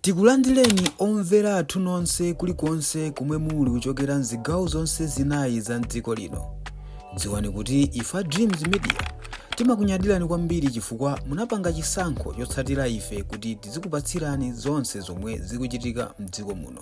Tikulandireni omvera athu nonse kulikonse komwe muli kuchokera mzigawo zonse zinayi za mdziko lino. Dziwani kuti ife a Dreams Media timakunyadirani kwambiri chifukwa munapanga chisankho chotsatira ife kuti tizikupatsirani zonse zomwe zikuchitika mdziko muno.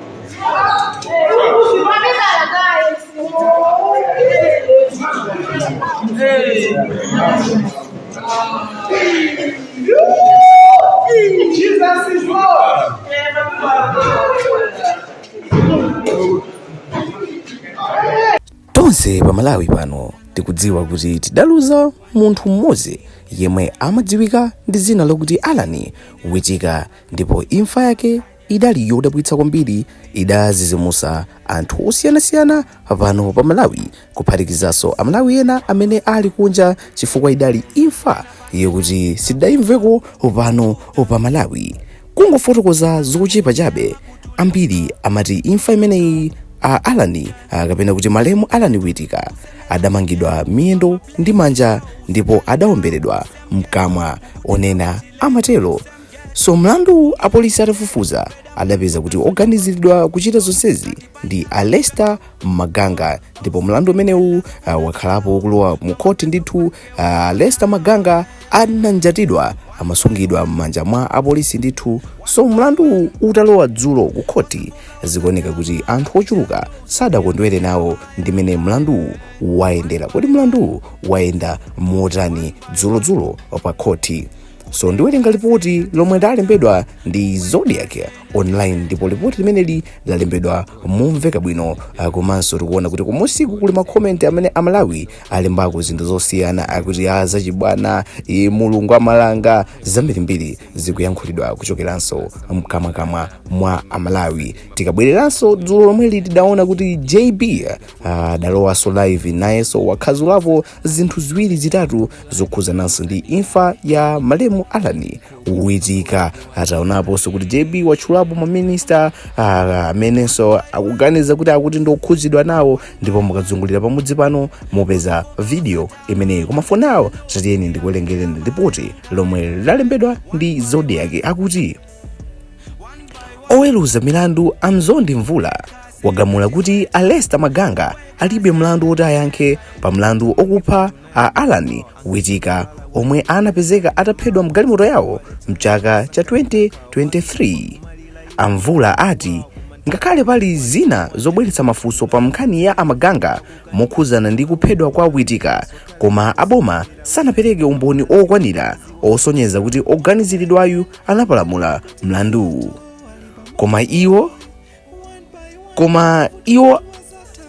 tonse pa malawi pano tikudziwa kuti tidaluza munthu mmodzi yemwe amadziwika ndi dzina lokuti alan witika ndipo imfa yake idali yodabwitsa kwambiri idazizimusa anthu osiyanasiyana pano pa malawi kuphatikizanso amalawi ena amene ali kunja chifukwa idali imfa yokuti sidayimveko pano pa malawi kungofotokoza zochepa chabe ambiri amati imfa imeneyi a alan ah, kapena kuti malemu alan witika adamangidwa miyendo ndi manja ndipo adaomberedwa mkamwa onena amatero so mlanduwu apolisi atafufuza adapeza kuti oganiziridwa kuchita zonsezi ndi a lester maganga ndipo mlandu umenewu uh, wakhala ukulowa mu khothi ndithu uh, a lester maganga ananjatidwa amasungidwa m'manja mwa apolisi ndithu so mlanduwu utalowa dzulo ku khothi zikuoneka kuti anthu ochuluka sadakondwere nawo ndi mmene mlanduwu wayendera kodi mlanduwu wayenda motani dzulodzulo pa khothi so ndiwerenga lipoti lomwe lalembedwa ndi zodiak online ndipo lipoti limeneli lalembedwa momveka bwino ah, komanso tikuona kuti kumunsiku kuli makomenti amene amalawi alembako zinthu zosiyana akuti ah zachibwana e, mulungu amalanga zambirimbiri zikuyankhulidwa kuchokeranso mkamwakamwa mwa amalawi tikabwereranso dzulo lomweli tidaona kuti jb ah, adalowanso live nayenso wakhazulapo zinthu ziwiri zitatu zokhuzananso ndi imfa ya malemu alan witika taonaponso kuti jb watchulapo maminista ah, amenenso akuganiza kuti akuti ndiokhuzidwa nawo ndipo mukazungulira pamudzi pano mupeza video imeneyi koma for now tatiyeni ndikuwerengereni lipoti lomwe lalembedwa ndi zodiak akuti woweruza milandu a mzondi mvula wagamula kuti a lester maganga alibe mlandu woti ayankhe pa mlandu wokupha a alan witika omwe anapezeka ataphedwa mgalimoto yawo mchaka cha 2023 a mvula ati ngakhale pali zina zobweretsa mafunso pa nkhani ya a maganga mokhuzana ndi kuphedwa kwa witika koma aboma sanapereke umboni wokwanira wosonyeza kuti woganiziridwayu anapalamula mlanduwu koma iwo koma iwo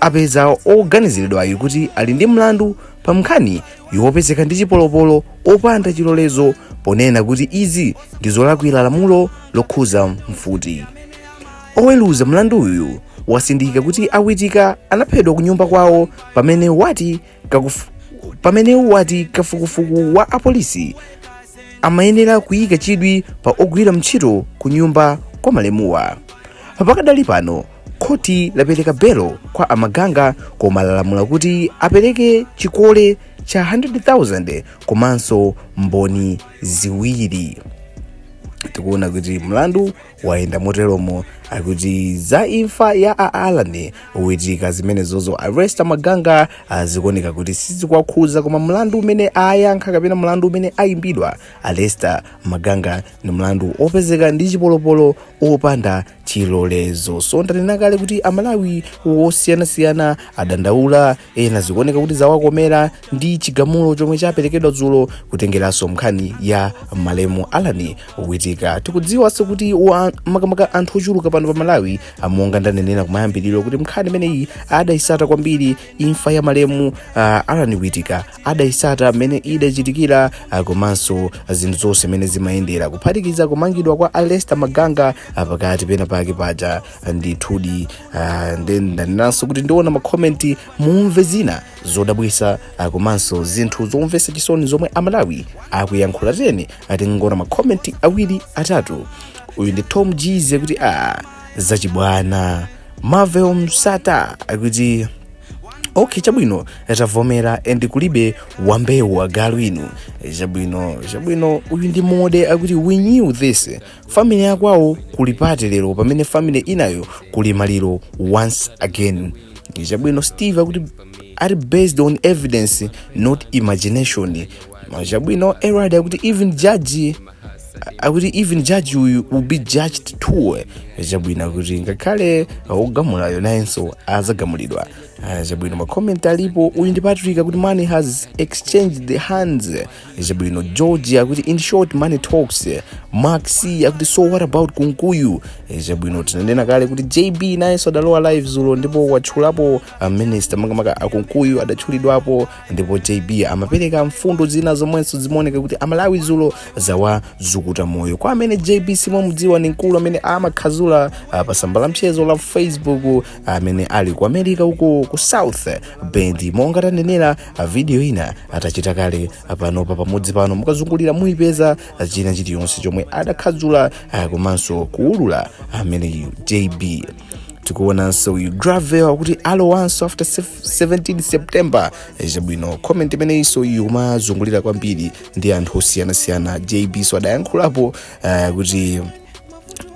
apeza oganiziridwayo kuti ali ndi mlandu pa nkhani yopezeka ndi chipolopolo opanda chilolezo ponena kuti izi ndi zolakwira lamulo lokhuza mfuti oweruza mlanduyu watsindika kuti a witika anaphedwa ku nyumba kwawo pamene wati kafuku pamene wati kafukufuku wa apolisi amayenera kuyika chidwi pa ogwira ntchito ku nyumba kwa malemuwa pakadali pano khoti lapereka belo kwa a maganga koma lalamula kuti apereke chikole cha 100,000 komanso mboni ziwiri tikuona kuti mlandu wayenda moteromo akuti za imfa ya a alan witika zimenezozo a lester maganga ah, zikuoneka kuti sizikuwakhuza koma mlandu umene ayankha kapena mlandu umene ayimbidwa a lester maganga ndi mlandu opezeka ndi chipolopolo opanda chilolezo so ndanena kale kuti amalawi wosiyanasiyana adandaula ena zikuoneka kuti zawakomera ndi chigamulo chomwe chaperekedwa dzulo kutengeranso mkhani ya malemu alan witika tikudziwa tonse kuti wa- makamaka anthu ochuluka pano pa malawi monga ndanenera kumayambiriro kuti mkhani imeneyi adayisata kwambiri imfa ya malemu uh, alan witika adayisata mmene idachitikira uh, komanso zinthu zonse mmene zimayendera kuphatikiza kumangidwa kwa a lester maganga uh, pakati penapake paja ndithudi uh, nde ndanenanso kuti ndiona makomenti mumve zina zodabwisa uh, komanso zinthu zomvesa chisoni zomwe amalawi akuyankhula tiyeni tingoona makomenti awiri atatu uyu ndi tom jize akuti zachibwana marvel msata akuti okay chabwino tavomera and kulibe wambewu agalu inu chabwino chabwino uyu ndi mode akuti we knew this family ya kwawo kuli pati lero pamene family inayo kuli maliro once again chabwino steve akuti are based on evidence not imagination chabwino erad akuti even judge akuti even judge uyu will be judged too chabwino kuti ngakhale ogamulayo nayenso azagamulidwa Ah, chabwino makomenti alipo uyu ndi patrick akuti money has exchanged hands chabwino george akuti in short money talks max akuti so what about kunkuyu chabwino tinanena kale kuti jb nayenso adalowa live zulo ndipo watchulapo a minister makamaka a kunkuyu adatchulidwapo ndipo jb amapereka mfundo zina zomwenso zimaoneka kuti amalawi zulo zawazukuta moyo kwa amene jb simamudziwa ni mkulu amene amakhazula ah, pa tsamba la mchezo la facebook amene ali ku america uko ku south bend monga tanenera video ina atachita kale panopa pamudzi pano mukazungulira muyipeza china chiliyonse chomwe adakhadzula ah, komanso kuulula ameneyu jb tikuonanso uyu gravel akuti alowanso after 17 september Eh, chabwino comment imeneyinso uyu kumazungulira kwambiri ndi anthu osiyanasiyana jb so adayankhulapo ah, kuti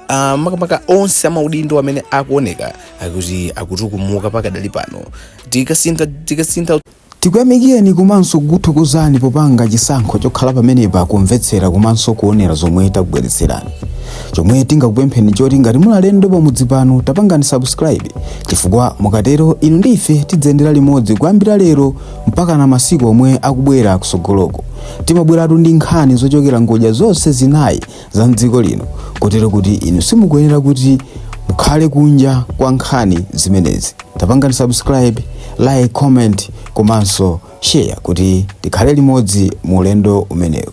uh, makamaka onse amaudindo amene akuoneka akuti akutukumuka pakadali pano tikuyamikireni komanso kukuthokozani popanga chisankho chokhala pamenepa kumvetsera komanso kuonera zomwe takubweretserani chomwe tingakupempheni choti ngati muli alendo pamudzi pano tapangani subscribe chifukwa mukatero inu ndi ife tidziyendera limodzi kuyambira lero mpakana masiku omwe akubwera kusogoloko timabweratu ndi nkhani zochokera ngodya zonse zinayi za mdziko lino kotero kuti inu simukuyenera kuti mukhale kunja kwa nkhani zimenezi tapangani subscribe like comment komanso share kuti tikhale limodzi mu ulendo umenewu